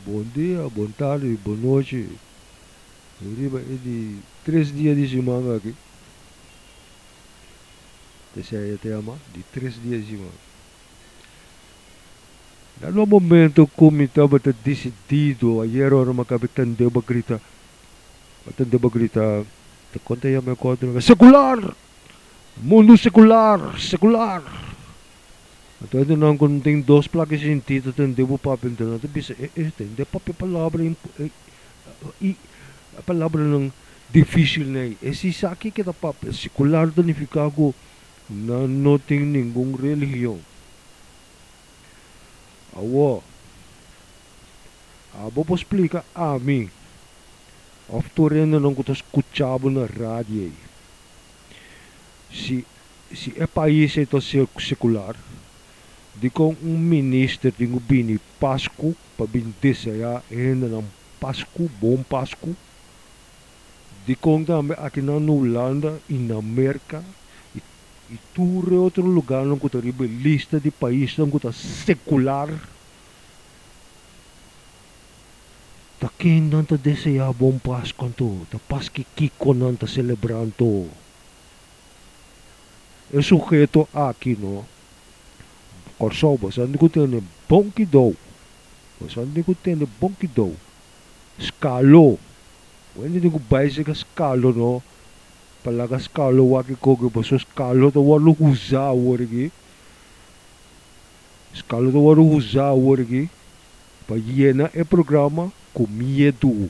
Bon dia, bon tardi i bon nochi riba e di tres dia di siman aki. Ta esei e tema di tres dia di siman. Na lo momento ku mi tabata disidido ayer ora mi a kabe tende bo grita, mi a tende bo grita, ta konta yama e kòrda, sekular! Mundu sekular, sekular! Anto hende nan ku tin dos plaka identit ta tende bo papia anto nan ta bisa e e tende papia palabra i palabranan difisil nei. E si sa ke ke ta papia sekular ta nifiká ku nan no tin ningun religion. Awo abo por splika ami òf tur hendenan ku ta skucha bo na radio ei si Si e pais ei ta sekular, dikon un minister tin ku bini Pasku pa bin deseá e hendenan Pasku, Bon Pasku? Dikon tambe akinan na Hulanda i na Merka i tur e otro lugánan ku ta riba e lista di paisnan ku ta sekular, ta ken nan ta deseá Bon Pasku anto? Ta pas ki kiko nan ta selebrá anto? E suheto aki no, Kòrsou bosanti ku tene bon kidou, bosanti ku tene bon kidou, skalo, bo entiende ku bai sega skalo no, pa laga skalo wak i koke boso skalo ta wòrdu huzá awor aki, skalo ta wòrdu huzá awor aki pa yena e programa ku miedu.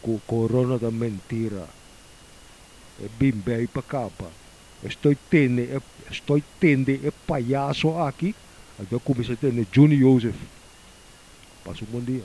cu corona ta mentira. E bin bay pa caba. Estoy tende e estoy tende e payaso aki, anto a cuminsa tende Juni Joseph. Pasa un bon dia.